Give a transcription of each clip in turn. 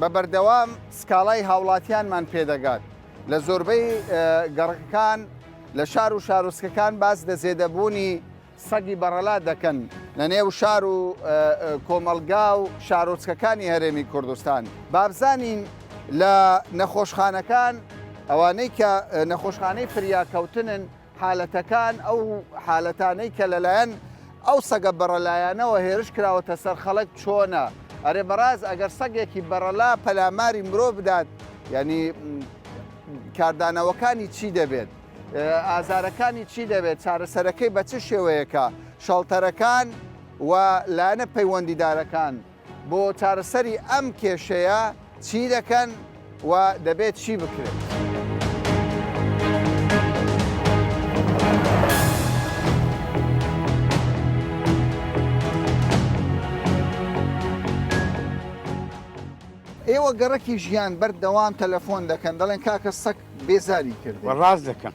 بە بەردەوام سکاڵای هاوڵاتیانمان پێدەگات لە زۆربەی گەڕەکەکان لە شار و شارۆچکەکان باس لە زێدەبوونی سەگی بەڕەلا دەکەن لە نێو شار و کۆمەڵگا و شارۆچکەکانی هەرێمی کوردستان بابزانین لە نەخۆشخانەکان ئەوانەی کە نەخۆشخانەی فریاکەوتنن حالەتەکان، ئەو حالەتانەی کە لەلایەن ئەو سەگە بەڕەلایانەوە هێرش کراوەتە سەر خەڵک چۆنە؟ ئەرێ بەڕاست ئەگەر سەگێکی بەڕەلا پەلاماری مرۆڤ بدات یانی کاردانەوەکانی چی دەبێت؟ ئازارەکانی چی دەبێت؟ چارەسەرەکەی بە چ شێوەیەکە؟ شەڵتەرەکان و لایەنە پەیوەندیدارەکان بۆ چارەسەری ئەم کێشەیە چی دەکەن و دەبێت چی بکرێت؟ ئێوە گەڕەکی ژیان بەردەوام تەلەفۆن دەکەن دەڵێن کاکە سەگ بێزاری کردوە ڕاست دەکەن.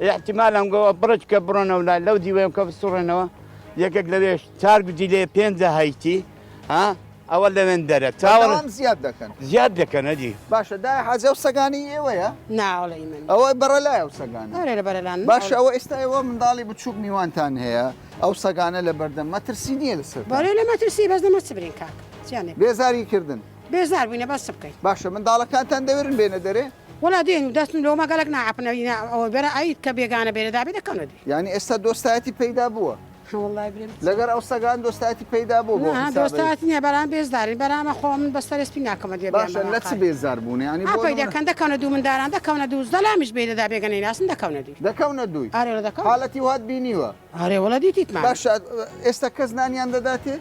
ئیحتیمال ئەنگۆوە بڕێکی کە بڕۆنەوە لای لەو دیوەیەم کە بسوڕێنەوە یەکێک لەوێش چار گوجی لێ پێنجە هەیتی ها ئەوە لەوێن دەرە چاوەڕ بەردەوام زیاد دەکەن زیاد دەکەن ئەجی باشە دایە حاجی ئەو سەگانەی ئێوەیە نا وەڵی ئی من ئەوە بەڕەلایە ئەو سەگانە ئەرێ لە بەرەلان باشە ئەوە ئێستا ئێوە منداڵی بچووک میوانتان هەیە ئەو سەگانە لە بەردەم مەترسی نییە لەسەر بەرێ لە مەترسی بەس دەمە چ برین کاک جیانێ بێزاری کردن بێزار بووینە بەس بکەی. باشە منداڵەکانتان دەوێرن بێنە دەرێ؟ وەڵا دێن و دەچن لۆ مەگەڵەک ناعەپنە ئینا ئەوە بەرە ئەیت کە بێگانە بێرە دابێ دەکەونە دێ. یانی ئێستا دۆستایەتی پەیدا بووە؟ وەڵای برێم لەگەر ئەو سەگان دۆستایەتی پەیدا بووە بۆ نا حیسابی؟ دۆستایەتی نیە بەرام بێزدارین بەرا ئەمە خۆ من بەس سەرێ سپی ناکەمە دێ بیان بە باشە لە چ ماقات بێزار بوون یانی بۆ ئاپەی نمونە دەکەن دەکەونە دوو منداران دەکەونە دوو زدە لامیش بێی دەدا بێگە نەیناسن دەکەونە دوی دەکەونە دووی؟ ئارێ وە دەکەونە حالەتی وات بینیوە؟ ئارێ وەڵا دیتیتمان. باشە ئێستا کەس نانیان دەداتێ؟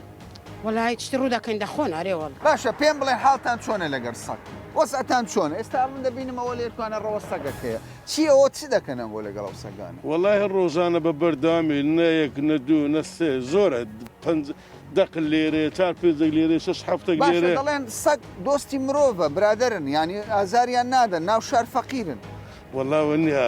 وەڵا هیچ شتی ڕوودەکەین دەخۆن ئارێ وەڵا. باشە پێم بڵێن حاڵتان چۆنە لەگەر سەگ؟ وەزعتان چۆنە؟ ئێستا من دەبینم ئەوە لێرکوانە ڕەوە سەگەک هەیە چی ئەوە چ دەکەن ئەوە لەگەڵ ئەو سەگانە؟ وەڵاهی ڕۆژانە بە بەردەوامی نە یەک نە دوو نە سێ زۆرە پەنج دەق لێرەیە چار پێنجەک لێرەیە شەش حەفتەک لێرەیە. باشە دەڵێن سەگ دۆستی مرۆڤە برادەرن یانی ئازاریان نادەن ناو شار فەقیرن. وەڵا وەنیە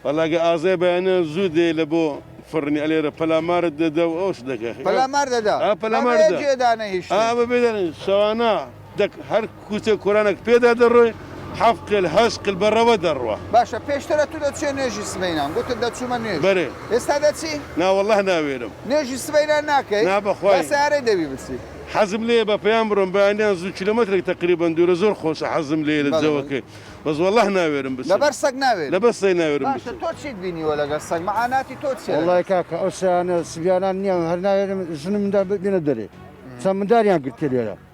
وەڵا گە ئازای بەیانە زوو دێ لە بۆ فڕنی ئەلێرە پەلامارت دەدا و ئەوش دەکە پەلامار دەدا ئا پەلامار دە ئەبێ جێ دانەیشتن ئا بەبێ دانەیشتن شەوانە دەک هەر کوچە کورانەک پێدا دەڕۆی حەفت قل هەشت قل بە ڕەوە دەڕوا. باشە پێشتر ئەتوو دەچویە نوێژی سبەینان گوتت دەچوومە نوێژ بەرێ ئێستا دەچی؟ نا وەڵاه ناوێرم. نوێژی سبەینان ناکەی؟ نا بەخوای. با سەیارەی دەبی بچی. حەزم لێیە بە پەیام بڕۆم بەیانیان زوو کیلۆمەترێک تەقریبەن دوورە زۆر خۆشە حەزم لێیە لە بەڵێ بەڵێ. جەوەکەی بەس وەڵاه ناوێرم بچم لەبەر سەگ ناوێری؟ لەبەر سەگ ناوێرم باشە بچم. تۆ چیت بینیوە لەگەر سەگ مەعاناتی تۆ چیە لەگەر وەڵای سەگ؟ کاکە ئەو سەیانە سبیانان نییە هەر ناوێرم ژنم دا بێنە دەرێ چەند منداریان گرتیە لێرە.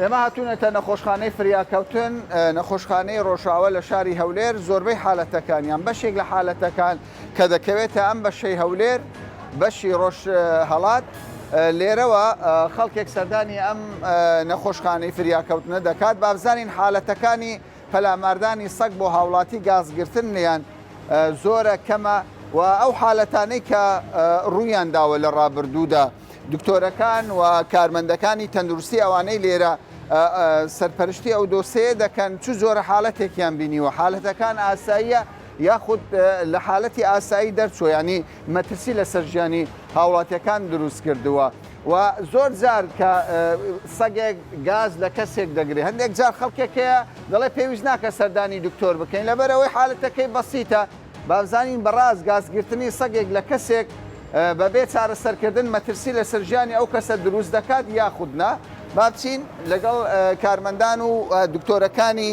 ئێمە هاتوونەتە نەخۆشخانەی فریاکەوتن، نەخۆشخانەی ڕۆژاوا لە شاری هەولێر، زۆربەی حالەتەکان یان بەشێک لە حالەتەکان کە دەکەوێتە ئەم بەشەی هەولێر، بەشی ڕۆژهەڵات، لێرەوە خەڵکێک سەردانی ئەم نەخۆشخانەی فریاکەوتنە دەکات، با بزانین حالەتەکانی پەلاماردانی سەگ بۆ هاوڵاتی گاز گرتن نیان زۆرە کەمە و ئەو حالەتانەی کە ڕوویان داوە لە ڕابردوودا دکتۆرەکان و کارمەندەکانی تەندروستی ئەوانەی لێرە سەرپەرشتی ئەو دۆسەیە دەکەن چ جۆرە حالەتێکیان بینیوە حالەتەکان ئاساییە یاخود لە حالەتی ئاسایی دەرچوە ینی مەترسی لەسەر ژیانی هاوڵاتیەکان دروست کردووە. و زۆر جار کە سەگێک گاز لە کەسێک دەگرێت هەندێک جار خەڵکێک هەیە دەڵێ پێویست ناکە سەردانی دکتۆر بکەین لەبەر ئەوەی حالەتەکەی بەسیتە بابزانین بەڕاست گازگرتنی سەگێک لە کەسێک بەبێ چارەسەرکردن مەترسی لەسەر ژیانی ئەو کەسە دروست دەکات یاخود نا بابچین لەگەڵ کارمەندان و دکتۆرەکانی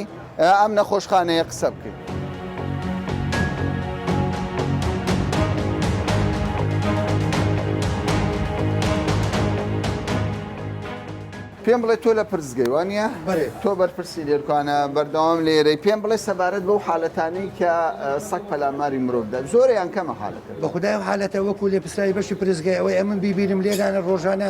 ئەم نەخۆشخانەیە قسە بکەین. پێم بڵێ تۆ لە پرسگەی وانە تۆ بەرپرسی لێرکانە بەردەوام لێرەی پێم بڵێ سەبارەت بەو حالەتانی کە سەک پەلاماری مرۆڤدا زۆریان کەمە حالەکە بە خدای حالەتە وەکو لێ پرسراوی بەشی پرسگەی ئەوەی ئەمن بیبیرم لێرانە ڕۆژانە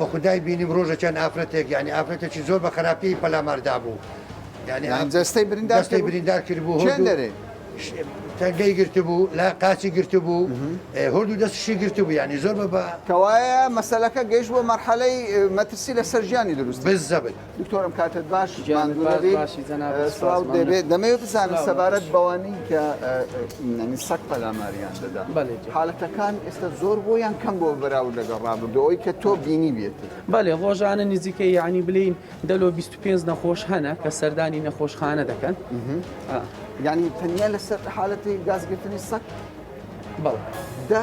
بەخودای بینیم ڕۆژەکیان ئافرەتێک یانی ئافرەتێکی زۆر بە خەراپیی پەلامار دابوو یانی ئاف جەستەی بریندار جەستەی بریندار کردبوو هۆ دەرێ تەنگەی گرتبوو لا قاچی گرتبوو هۆردوو دەستشی گرتبوو یانی زۆر بە کەوایە مەسەلەکە گەیشت بۆ مەرحەلەی مەترسی لەسەر ژیانی دروست بزەبت. دکتۆرم کاتت باش سڵاو دەبێت دەمەوێت بزانم سەبارەت بەوانی کە نەنی سەک پەلاماریان دەدا حالەتەکان ئێستا زۆر بۆ یان کەم بۆ بەراورد لەگەڵ ڕابردەوەی کە تۆ بینی بێت بەێ ڕۆژانە نزیکە یعنی بلین دەلۆ 25 نەخۆش هەنە کە سەردانی نەخۆشخانە دەکەن یعنی تەنیا لەسەر حالەتی گازگرتنی سەک بەڵ دە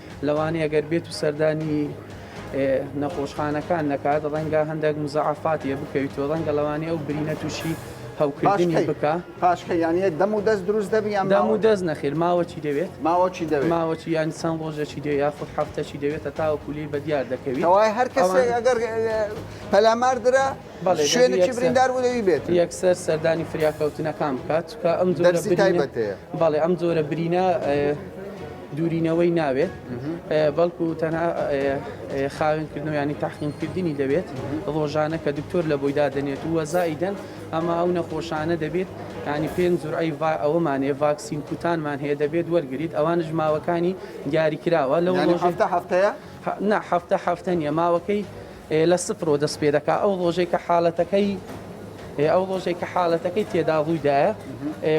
لەوانەیە گەر بێت و سەردانی نەخۆشخانەکان نەکات ڕەنگە هەندێک مزعفاتیە بکەویت و ڕەنگە لەوانەیە ئەو برینە تووشی هەوکردنی بکە پاشکە یانە دەم و دەست دروست دەبی یان دەم و دەست نەخیر ماوەچی دەوێت ماوەچی دەوێت ماوەچی یان چەند ڕۆژێکی دێ یاخود هەفتەچی دەوێتە تاوە کولی بە دیار دەکەویت ئەوای هەر کەسێک ئەگەر پەلاماردرا شوێنێکی بریندار بوو لەوی بێت یەکسەر سەردانی فریاکەوتنەکان بکات چکە ئەم دەرسی تایبەت بەڵێ ئەم جۆرە برینە دوورینەوەی ناوێت بەڵکو تەنها خاوێنکردنەوە ینی تاقیمکردنی دەبێت ڕۆژانە کە دکتۆر لە بۆی دادنێت و وەزایدەن ئەما ئەو نەخۆشانە دەبێت ینی پێنج زورعی ڤ ئەوەمانێ ڤاکسین کوتانمان هەیە دەبێت وەرگیت ئەوانش ماوەکانی دیاری کراوە لەوە هەفتە هەفتەیە؟ نا هەفتە هەفتە نیە ماوەکەی لە سفرەوە دەست پێ دەکات، ئەو ڕۆژەی کە حالەتەکەی ئەو ڕۆژەی کە حالەتەکەی تێدا ڕووی دایە،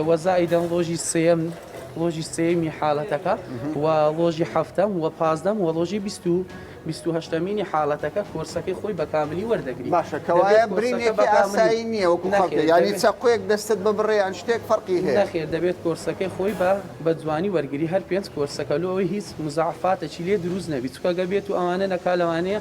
وە زائیدەن ڕۆژی سێیەم ڕۆژی سێیەمی حالەتەکە و ڕۆژی هەفتەم و پازدەم و ڕۆژی بیست و بیست و هەشتەمینی حالەتەکە کۆرسەکەی خۆی بە کاملی وەردەگری باشە کەوایە برینێکی ئاسایی نییە وەکو خەڵک نەخێر، یانی دەبێت- چەقۆیەک دەستت ببڕێ یان شتێک فەرقی هەیە نەخێر دەبێت کۆرسەکەی خۆی بە بە جوانی وەرگری هەر پێنج کۆرسەکە لۆ ئەوەی هیچ مزاعەفاتەکی لێ دروست نەبی چونکە گە بێت و ئەوانە نەکا لەوانەیە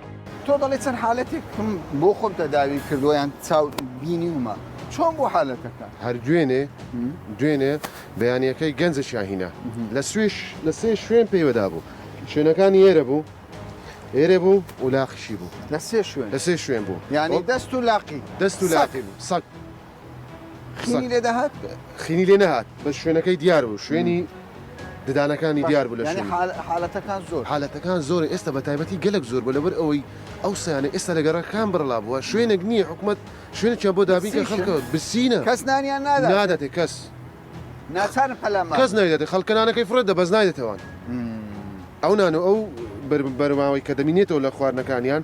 تۆ دەڵێ چەند حالەتێکم بۆ خۆم تەداوی کردووە یان چاو بینیومە چۆن بۆ حالەتەکە هەر دوێنێ دوێنێ بەیانەکەی گەنجە شاهینە لە سوێش لە سێ شوێن پێیوەدا بوو شوێنەکانی ئێرە بوو ئێرە بوو و لاقیشی بوو لە سێ شوێن لە سێ شوێن بوو یانی دەست و لاقی دەست و لاقی بوو سەک خینی لێ دەهات خینی لێ نەهات بە شوێنەکەی دیار بوو شوێنی ددانەکانی دیار بوو لە شوێن حالەتەکان زۆر حالەتەکان زۆر ئێستا بە تایبەتی گەلک زۆر بە لەبەر ئەوەی ئەو سیانە ئێستا لە گەڕەکان بڕلا بووە شوێنێک نییە حکوومەت شوێنێکیان بۆ دابین کە خەڵکە بسینە کەس نانیان ناداتێ کەس ناچار پەلام کەس نایدێتە خەڵکەنانەکەی فڕێت دە بەس نایدێتەوان ئەو نان و ئەو بەرماوەی کە دەمینێتەوە لە خواردنەکانیان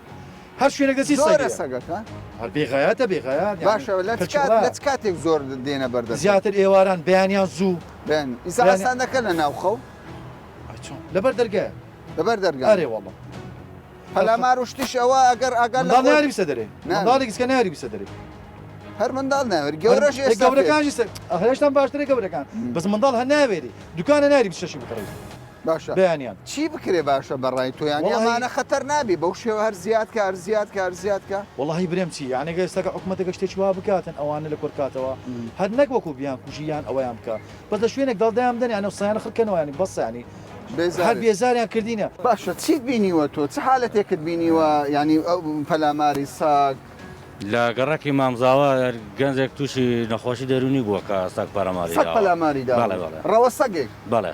هەر شوێنێک دەچی سەگە زۆرە سەگەکە هەر بێغایەتە بێغایەت یانی باشە لە چ کەچی کات- وایە. لە چ کاتێک زۆر دێنە بەردەست زیاتر ئێواران بەیانیان زوو بێن ئیسا یانی- ئاسان دەکەن لە ناو خەو ئای چۆن لەبەر دەرگایە لەبەر ئەرێ دەرگا وەڵڵا پەلامار و شتیش ئەوە ئەگەر ئاگار لە منداڵ ناری خۆی بیسە دەرێ نعم. منداڵی گچکە ناری بیسە دەرێ هەر منداڵ ناوێت گەورەش هەر- ئێستا گەورەکانیش سەر- ئەه، هێشتان باشترە گەورەکان بەس منداڵ هەر ناوێری دوکانە ناری بچەشی بکڕی باشە بەیانیان چی بکرێ باشە بەڕای تۆ یانی وەڵاهی ئەمانە خەتەر نابی بەو شێوە هەر زیاد کە هەر زیاد کە هەر زیاد کە. وەڵاهی برێم چی یانی گەر ئێستاکە حکومەتەکە شتێکی وا بکاتن ئەوانە لە کۆر کاتەوە هەر نەک وەکو بیان کوژی یان ئەوەیان بکا بەس لە شوێنێک دەڵدایان بدەن یانی قسەیان خڕ کەنەوە یانی بەس یانی هەر بێزارت. بێزاریان کردینە. باشە چیت بینیوە تۆ چ حالەتێکت بینیوە یانی ئەو پەلاماری ساگ. لە گەڕەکی مامزاوا گەنجێک تووشی نەخۆشی دەروونی بووە کە سەگ پەلاماری سەگ داوە پەلاماری داوە بەڵێ بەڵێ ڕەوە سەگێک. بەڵێ.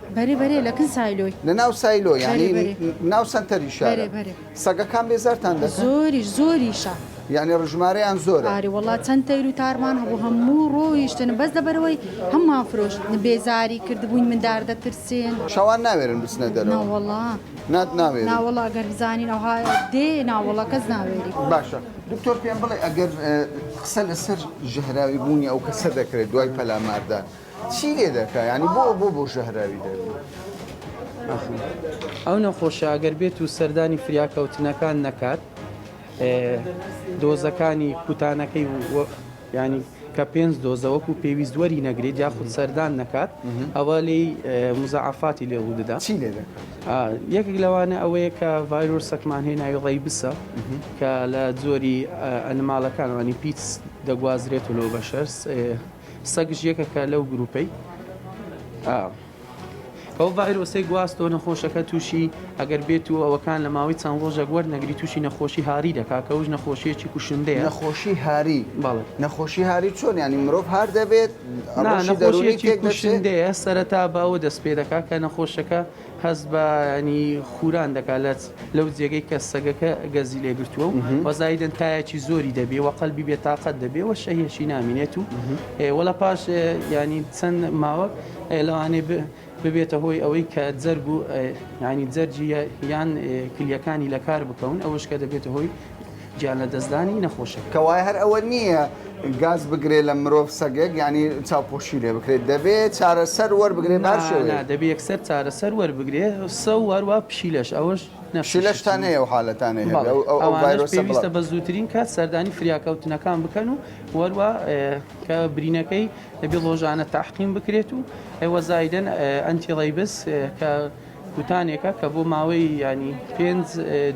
بەرێ بەرێ لە کن سایلۆی. لە ناو سایلۆ یانی ناو سەنتەری شار سەگەکان بێزارتان دە زۆری زۆریشە یعنی ڕژمارەیان زۆر ئاری وڵات چەند تەیر و تارمان هەبوو هەموو ڕۆیشتن بەس لەبەرەوەی هەممان فرۆشت بێزاری کردبووین من دار دەترسێن شەوان ناوێرن بچنە دەرەوە وڵا نات ناوێ ناوەڵا گەر بزانین ئەوها دێ ناوەڵە کەس ناوێری باشە دکتۆر پێم بڵێ ئەگەر قسە لەسەر ژەهراوی بوونی ئەو کەسە دەکرێت دوای پەلاماردان چی لێ دەکا یانی بۆ بۆ بۆ ژەهراوی دەبی ئەخ. ئەو نەخۆشە ئەگەر بێت و سەردانی فریاکەوتنەکان نەکات دۆزەکانی کوتانەکەی و ینی کە پێنج دۆزە وەکو پێویست وەری نەگرێت یاخود سەردان نەکات ئەوە لی مزعفاتی لێ ودەدا چی لێ یەکێک لەوانە ئەوەیە کە ڤایرۆسەکمان هەیە ناوی ڕێبسە کە لە جۆری ئەنماڵەکانوانی پیچ دەگوازرێت و لۆ بەشەرس سەگش یەکەکە لەو گروپەی. ئەو ڤایرۆسەی گواستۆ نەخۆشەکە تووشی ئەگەر بێت و ئەوەکان لە ماوەی چەند ڕۆژێک وەرنەگری تووشی نەخۆشی هاری دەکات کە ئەوش نەخۆشیەکی کوشندەیە. نەخۆشی هاری؟ بەڵێ. نەخۆشی هاری چۆن یانی مرۆڤ هار دەبێت؟ نا نەخۆشیەکی کوشندەیە سەرەتا بە ئەوە دەست پێ دەکات کە نەخۆشەکە. هەست بە یانی خوران دەکا لە لەو جێگەی کە سەگەکە گەزی لێ گرتووە و وە زایدن تایەکی زۆری دەبێ وە قەلبی بێ تااقەت دەبێ وە شەهێشی نامینێت و وە لە پاش ینی چەند ماوەک لەوانێ ببێتە هۆی ئەوەی کە جەرگ و ینی جەرجی یان کلیەکانی لە کار بکەون ئەوش کە دەبێتە هۆی گیان لەدەستدانی نەخۆشەکە. کەوایە هەر ئەوە نییە گاز بگرێت لە مرۆڤ سەگێک یانی چاوپۆشی لێ بکرێت دەبێت چارەسەر وەربگرێت بە هەر شێوەیەک. نا نا دەبێت یەکسەر چارەسەر وەربگرێت سە و هەروە پشیلەش ئەوەش نەفسی شتی. پشیلەشتان هەیە ئەو حالەتانەی هەیە بەڵێ ئەو ئەو ئەوانەش ڤایرۆسە بڵاو. پێویستە بە زووترین کات سەردانی فریاکەوتنەکان بکەن و وەروە کە برینەکەی دەبێت ڵۆژانە تەعقیم بکرێت و ئێوە زایدەن ئەنتی ڕەیبس کە کوتانێکە کە بۆ ماوەی ینی پێنج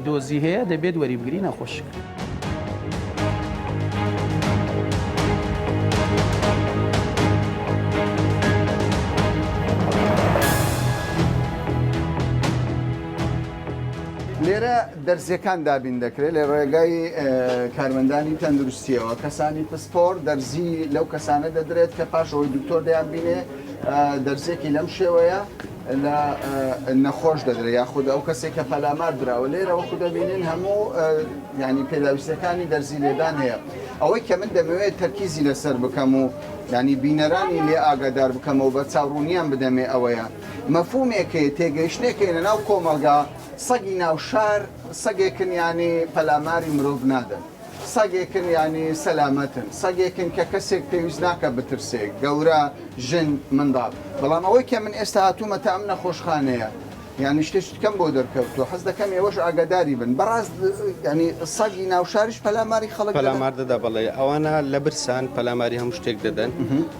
دۆزی هەیە دەبێت وەری بگری نەخۆشک. لێرە دەرزیەکان دابین دەکرێت لە ڕێگای کارمەندانی تەندروستیەوە کەسانی پسپۆر دەرزی لەو کەسانە دەدرێت کە پاشەوەی دکتۆر دەیان بینێ دەرزێکی لەم شێوەیە لە نەخۆش دەدرێت یاخود ئەو کەسێک کە پەلامار دراوە لێرە وەکو دەبینین هەموو ینی پێداویستەکانی دەرزی لێدان هەیە ئەوەی کە من دەمەوێت تەرکیزی لەسەر بکەم و ینی بینەرانی لێ ئاگادار بکەمەوە بە چاوڕوونیان بدەمێ ئەوەیە مەفومێکێ تێگەیشتێکێنە ناو کۆمەلگا سەگی ناو شار سەگێکن ینی پەلاماری مرۆڤ نادەن. سەگێکن یانی سەلامەتن، سەگێکن کە کەسێک پێویست ناکات بترسێ، گەورە، ژن، منداڵ. بەڵام ئەوەی کە من ئێستا هاتوومەتە ئەم نەخۆشخانەیە یانی شتێ شتکەم بۆ دەرکەوتووە، حەز دەکەم ئێوەش ئاگاداری بن. بەڕاست یانی سەگی ناو شاریش پەلاماری خەڵک دەدەن؟ پەلامار دەدا بەڵێ، ئەوانە لە برسان پەلاماری هەموو شتێک دەدەن.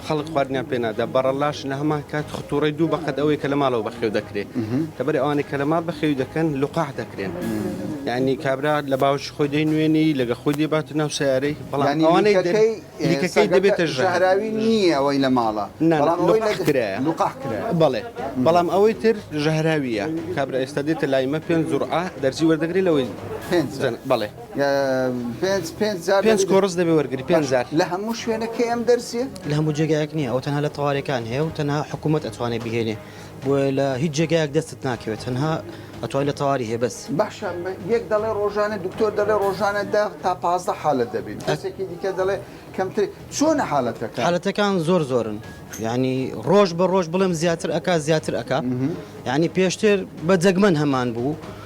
خەڵک خواردنیان پێ نادا بەڕەلاش لە هەمان کات خطوڕی دوو بەقەت ئەوەی کە لە ماڵەوە بەخێو دەکرێت لەبەر ئەوانەی کە لە ماڵ بەخێوی دەکەن لقاح دەکرێن یعنی کابرا لە باوش خۆی دەی نوێنی لەگە خۆی دێبات و ناو سیارەی بەڵامەوانەیەکەی دەبێتە ژەهراوی نییە ئەوەی لە ماڵە بەڵێ بەڵام ئەوەی تر ژەهراویە کابرا ئێستا دێتە لایمە پێنج زوڕ دەرزی وەردەگری لەوەی بەڵێ پێنج پێنج جار پێنج کۆڕس دەبێ وەرگری پێنج جار لە هەموو شوێنەکەی ئەم دەرسیە لە هەموو جێگایەک نییە ئەو تەنها لە تەوارەکان هەیە و تەنها حکوومەت ئەتوانێت بهێنێ بۆ لە هیچ جێگایەک دەستت ناکەوێت تەنها ئەتوای لە تەواری هەیە بەس باشە یەک دەڵێ ڕۆژانە دکتۆر دەڵێ ڕۆژانە دە تا پازدە حالت دەبین کەسێکی دیکە دەڵێ کەمتر چۆنە حالەتەکە حالەتەکان زۆر زۆرن ینی ڕۆژ بە ڕۆژ بڵێم زیاتر ئەک زیاتر ئەک ینی پێشتر بە جەگمەن هەمان بوو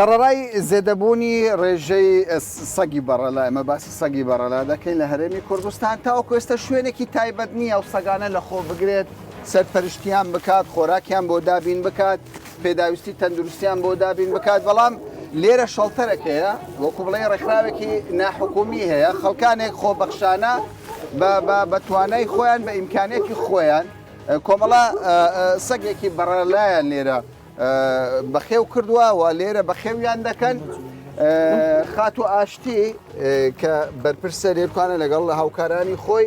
سەڕەرای زێدەبوونی ڕێژەی سەگی بەڕە لە ئەمە باسی سەگی بەڕەلا دەکەین لە هەرێمی کوردستان تاوەکوێستە شوێنێکی تایبەت نییە ئەو سەگانە لە خۆ بگرێت سەرپەرشتیان بکات، خۆراکیان بۆ دابین بکات، پێداویستی تەندروستیان بۆ دابین بکات، بەڵام لێرە شەڵتەرەک هەیە، وەکو بڵێی ڕێکخراوێکی ناحکومی هەیە، خەڵکانێک خۆبەخشانە بە توانای خۆیان بە ئیمکانیەتی خۆیان کۆمەڵە سەگێکی بەڕەلایان لێرە بەخێو کردووە و لێرە بەخێویان دەکەن. خاتو ئاشتی کە بەرپرسە لێرکانە لەگەڵ هاوکارانی خۆی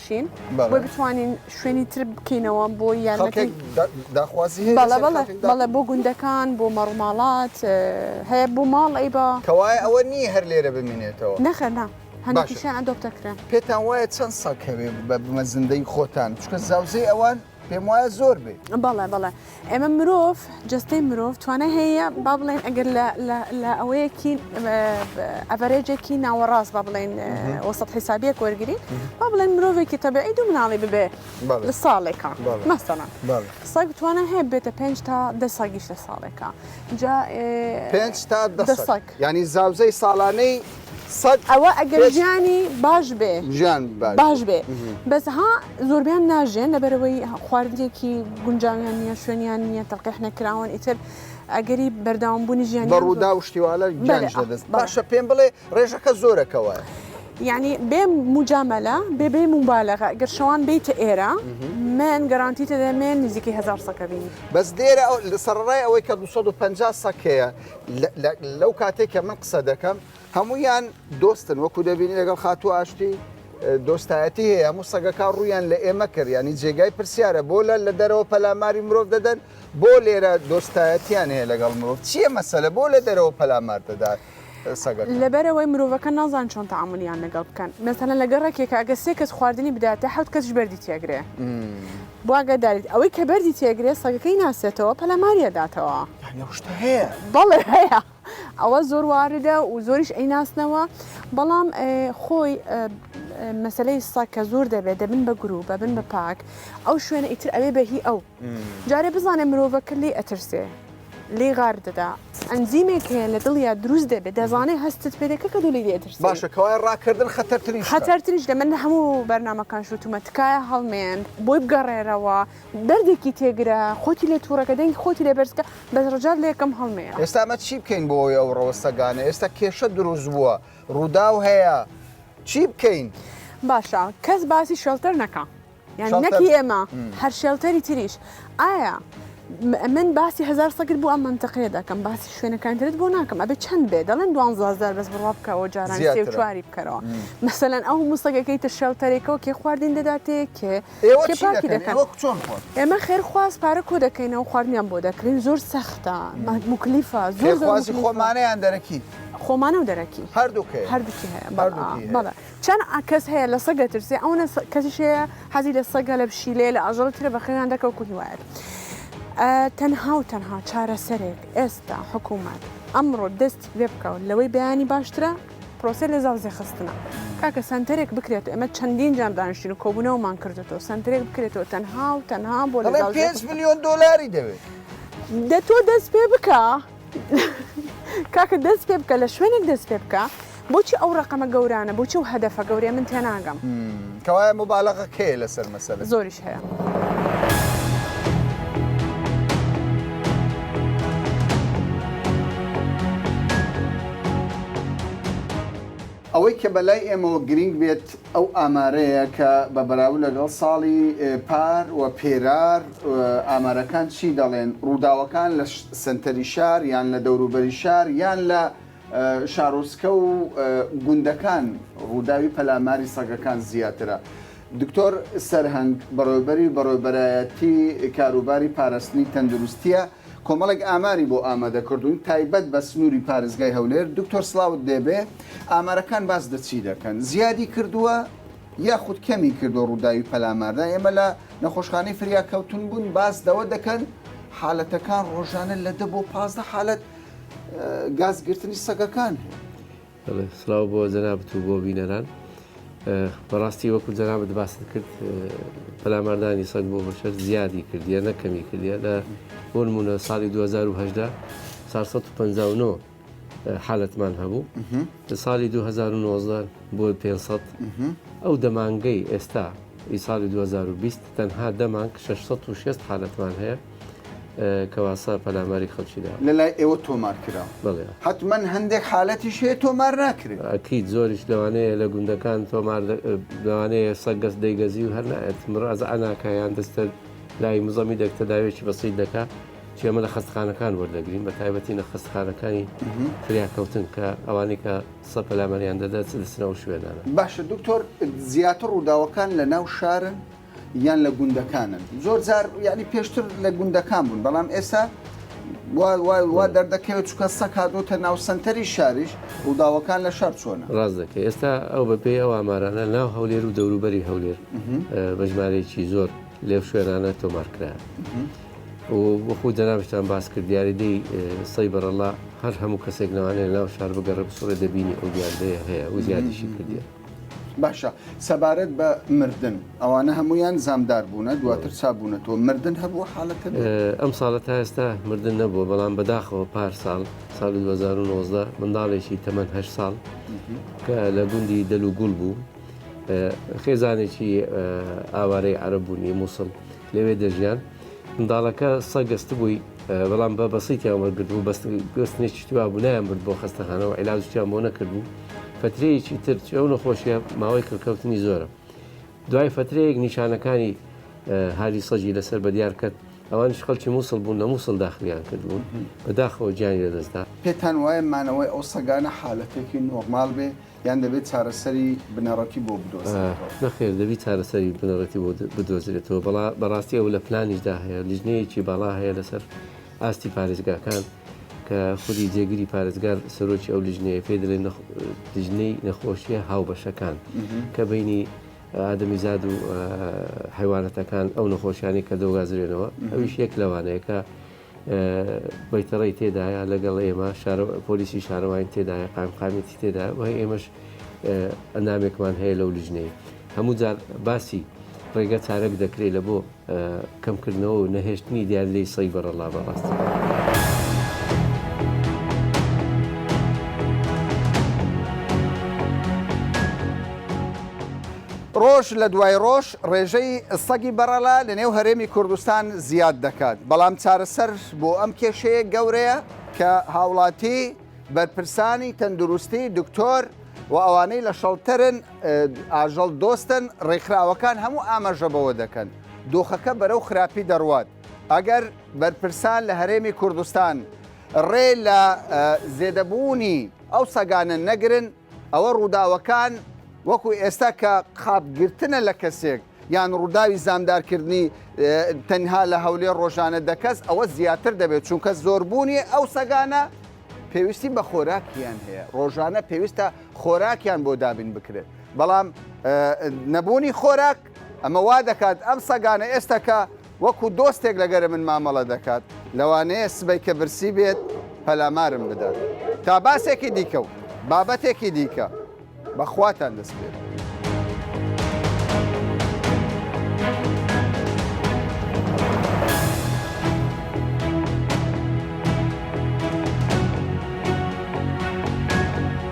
بچین بۆی بتوانین شوێنی تر بکەینەوە بۆ یارمەتی بەڵێ بۆ گوندەکان بۆ مەڕوماڵات هەیە بۆ ماڵ ئەی بە کەوایە ئەوە نییە هەر لێرە بمینێتەوە نەخەنا هەندێکیشیان ئەدۆپتەکرێن پێتان وایە چەند ساڵ کەوێ بە بمە زندەی خۆتان چکە زاوزێ ئەوان پێم وایە زۆر بێ بەڵێ بەڵێ ئێمە مرۆڤ جستەی مرۆڤ توانە هەیە با بڵێن ئەگەر لە ئەوەیەکی ئەڤەرێجێکی ناوەڕاست با بڵێن وەسەد حیسابیەک وەرگری با بڵێن مرۆڤێکی تەبعی دوو مناڵی ببێ لە ساڵێکە مەسەڵە سەگ توانە هەیە بێتە پێ تا دە ساگیش لە ساڵێکە جا پێ تا دە سەگ ینی زاوزەی ساڵانەی سەد ئەوە ئەگەر پێش ژیانی باش بێ ژیان باش بێ بەس ها زۆربیان ناژێن لەبەرەوەی خواردنێکی گونجاویان نییە شوێنیان نییە تەقیح نەکراون ئیتر ئەگەری بەرداوام بوونی ژیان بە ڕوودا و شتیوالە گیانش دەبێت باشە پێم بڵێ ڕێژەکە زۆرەکەوە ینی بێ مجاملە بێ بێ موبالەغە گەر شەوان بیتە ئێرە من گەرانتی تەدەمێن نزیکی هزار سەکە بینی بەس دێرە لە سەرڕای ئەوەی کە 250 سەکەیە لەو کاتێک کە من قسە دەکەم هەمویان دۆستن وەکو دەبینی لەگەڵ خاتوو ئاشتی دۆستایەتی هەیە هەموو سەگەکە ڕویان لە ئێمە کرد ینی جێگای پرسیارە بۆ لە لە دەرەوە پەلاماری مرۆڤ دەدەن بۆ لێرە دۆستایەتیان هەیە لەگەڵ مرۆڤ چییە مەسەلە بۆ لە دەرەوە پەلامار دەدات. لەبەرەوەی مرۆڤەکە نازان چۆن تعاملیان لەگەڵ بکەن مەسەن لەگەڕێکێکە ئەگە سێ کەس خواردنی بداتە حوت کەسش بەردی تێگرێ بۆ ئاگاداریت، ئەوەی کە بەردی تێگرێت سەگەکەی ناسێتەوە پەلاماری ئەداتەوە. یانی ئەو شتە هەیە؟ بەڵێ هەیە، ئەوە زۆر واردە و زۆریش ئەیناسنەوە، بەڵام خۆی مەسلەی سەگ کە زۆر دەبێت دەبن بە گروپ بەبن بە پاک ئەو شوێنە ئیتر ئەوێ بە هی ئەو جارێ بزانێ مرۆڤەکە لێ ئەترسێ. لێی غار دەدا. ئەنزیمێک هەیە لە دڵیا دروست دەبێت دەزانێت هەستت پێ دەکە کە دوو لێی دێترسێ باشە کەوایە ڕاکردن خەتەرترین شتە خەتەرترینش دە من لە هەموو بەرنامەکان شوتومە تکایە هەڵمێن بۆی بگەڕێرەوە دەردێکی تێگرە خۆتی لێ توڕەکە دەنگی خۆتی لێ بەرزکە بەس ڕجات لە یەکەم هەڵمێنە. ئێستا ئەمە چی بکەین بۆ ئەوەی ئەو ڕەوە سەگانە ئێستا کێشە دروست بووە ڕووداو هەیە چی بکەین؟ باشە کەس باسی شێڵتەر نەکا. یانی نەک ئێمە هەر شێڵتەری تریش ئایا من باسی هزار سەگر بۆ ئەم منتەقەیە دەکەم باسی شوێنەکانترت بۆ ناکەم ئەبێ چەند بێ دەڵێن دوانزار بەس بڕوا بکەوە جاران سێ و چواری بکەرەوە مەسەەن ئەو موسەگەکەی تە شێڵتەرێکەوە کێ خواردین دەداتێ کێ ئێمە خێرخواز پارە کۆ دەکەینەوە خواردنیان بۆ دەکرین زۆر سەختە مکلیفە زۆر خۆمانیان دەرەکی خۆمانە و دەرەکی هەردووکە هەردووکی هەیە بەڵێ چەن کەس هەیە لە سەگ دەترسێ ئەونە کەسیش هەیە حەزی لە سەگە لە پشیلەیە لە ئاژەڵ ترە بە خێویان دەکەوت و هیوایەت تەنها و تەنها چارەسەرێک ئێستا حکوومەت ئەمڕۆ دەست لێ بکەون لەوەی بەیانی باشترە پرۆسە لە زاوزێ خستنە کاکە سنتەرێک بکرێت ئەمە چەندین جار دانیشتین و کۆبوونەوەمان کردێتەوە سنتەرێک بکرێتەوە تەنها و تەنها بۆ لە پێ میلیۆن دلاری دەوێت دە تۆ دەست پێ بکە. کاکە دەست پێ بکە لە شوێنێک دەست پێ بکە بۆچی ئەو ڕقەمە گەورانە بۆچی و هەدەفە گەورەیە من تێناگەم کەوایە مبالغە کێ لەسەر مەسەل زۆریش هەیە. ئەوەی کە بە لای ئێمەوە گرینگ بێت ئەو ئامارەیە کە بە بەراو لەگەڵ ساڵی پار و پێرار ئامارەکان چی دەڵێن، ڕووداوەکان لە سەنتەری شار یان لە دەوروبەری شار یان لە شارۆچکە و گوندەکان ڕووداوی پەلاماری سەگەکان زیاترە. دکتۆر سەرهەنگ بەڕێوەبەری بەڕێوەبەرایەتی کاروباری پاراستنی تەندروستییە، کۆمەڵێک ئاماری بۆ ئامادە کردووین تایبەت بە سنووری پارێزگای هەولێر، دکتۆر سڵاوت دێبێ ئامارەکان باس لە چی دەکەن؟ زیادی کردووە یاخود کەمی کردووە ڕووداوی پەلاماردا؟ ئێمە لە نەخۆشخانەی فریاکەوتنبوون باس لەوە دەکەن حالەتەکان ڕۆژانە لە دە بۆ پازدە حالەت گاز گرتنی سەگەکان هەیە. بەڵێ سڵاو بۆ جەنابت و بۆ بینەران بەڕاستی وەکو جەنابت باست کرد پەلاماردانی سەگ بۆ بەشەر زیادی کردیە نەکەمی کردە لە بۆ نمونە ساڵی 2010 459 حالەتمان هەبوو لە ساڵی 2009 بۆ 500 ئەو دەمانگەی ئێستا ئی ساڵی 2020 تەنها دەمانگ 660 حالەتمان هەیە کەواسە پەلاماری خەڵکی داوە. لە لای ئێوە تۆمار کراوە؟ بەڵێ. حەتمەن هەندێک حالەتیش هەیە تۆمار ناکرێت؟ ئەکید زۆریش لەوانەیە لە گوندەکان تۆمار لەوانەیە سەگ گەس دەیگەزی و هەر نایەت مرازە ئەناکە یان دەستە لای مزەمی دەک تەداوێکی بەسیت دەکات چێمە لە خەستخانەکان وەردەگرین بە تایبەتی نە خەستخانەکانی فریاکەوتن کە ئەوانەی کە سە پەلامەریان دەدات دەسنەوە شوێنانە باشە دکتۆر زیاتر ڕووداوەکان لە ناو شارن؟ یان لە گوندەکانن زۆر جار یعنی پێشتر لە گوندەکان بوون بەڵام ئێسا وا دەردەکەوێت چکە سەک هادۆتە ناو سنتەری شاریش ڕووداوەکان لە شار چۆنە ڕاست دەکە ئێستا ئەو بەپێی ئەو ئامارانە ناو هەولێر و دەوروبەری هەولێر بەژمارێکی زۆر لێو شوێنانە تۆمارکرا و بخو دەناوشتان باس کرد دیاریدەی سەی بەرەڵا هەر هەموو کەسێک ناوانێ ناو شار بگەڕە بسوڕێ دەبینی ئەو دیاردەیە هەیە و زیادیشی کردێت باشە سەبارەت بە مردن ئەوانە هەمویان زامدار بوونە دواتر چابوونەتەوە مردن هەبوو حالەت ئەم ساڵە تا ئێستا مردن نەبووە بەڵام بەداخەوە پار ساڵ سال 2019 منداڵێکی تەمەەن هە ساڵ کە لە گوندی دەلو گوڵ بوو خێزانێکی ئاوارەی عرب بوونی مووسڵ لەوێ دەژیان منداڵەکە سە گەستبووی بەڵام بە بەسیتیان وەرگتبوو بەست گوستنێکی توا بوونایان برد بۆ خستەخانەوە علاجیان بۆ نەکردبوو فترەیەکی تر ئەو نەخۆشیە ماوەی کڕکەوتنی زۆرە دوای فترەیەک نیشانەکانی هاری سەجی لەسەر بەدیار کرد ئەوانش خەڵکی مووسڵ بوون لە مووسڵ داخلیان کردبوون بەداخەوە گیانی لەدەستدا پێتان وایە مانەوەی ئەو سەگانە حالەتێکی نۆرمال بێ؟ یان دەبێت چارەسەری بنەڕەتی بۆ بدۆزرێتەوە؟ نەخێر دەبی چارەسەری بنەڕەتی بۆ بدۆزرێتەوە، بەڵا بەڕاستی ئەو لە پلانیشدا هەیە، لیژنەیەکی باڵا هەیە لەسەر ئاستی پارێزگاکان کە خودی جێگری پارێزگار سەرۆکی ئەو لیژنەیە پێ دەلێن نەخ لیژنەی نەخۆشیە هاوبەشەکان کە بینی ئادەمیزاد و حیوانەتەکان ئەو نەخۆشیانی کە دەوگازرێنەوە ئەویش یەک لەوانەیە کە بەیتەڕی تێدایە لەگەڵ ئێمە پۆلیسی شارەوانی تێدایە قایمقامێتی تێدا وای ئێمەش ئەندامێکمان هەیە لەو لیژنەی هەموو جار باسی ڕێگە چارەک دەکرێت لە بۆ کەمکردنەوە و نەهێشتنی دیار لی سەی بەڕەڵا بەڕاستی. ڕۆژ لە دوای ڕۆژ ڕێژەی سەگی بەڕەڵا لە نێو هەرێمی کوردستان زیاد دەکات، بەڵام چارەسەر بۆ ئەم کێشەیە گەورەیە کە هاوڵاتی، بەرپرسانی تەندروستی، دکتۆر و ئەوانەی لە شەڵتەرن ئاژەڵ دۆستن، ڕێکخراوەکان هەموو ئاماژە بەوە دەکەن دۆخەکە بەرەو خراپی دەڕوات، ئەگەر بەرپرسان لە هەرێمی کوردستان ڕێ لە زێدەبوونی ئەو سەگانە نەگرن، ئەوە ڕووداوەکان وەکو ئێستا کە خاپ گرتنە لە کەسێک یان ڕووداوی زامدارکردنی تەنها لە هەولێر ڕۆژانە دەکەس ئەوە زیاتر دەبێت چونکە زۆربوونی ئەو سەگانە پێویستی بە خۆراکیان هەیە ڕۆژانە پێویستە خۆراکیان بۆ دابین بکرێت بەڵام نەبوونی خۆراک ئەمە وا دەکات ئەم سەگانە ئێستا کە وەکو دۆستێک لەگەر من مامەڵە دەکات، لەوانەیە سبەی کە برسی بێت پەلامارم بدات. تا باسێکی دیکە و بابەتێکی دیکە، بە خواتان دەسپێرم.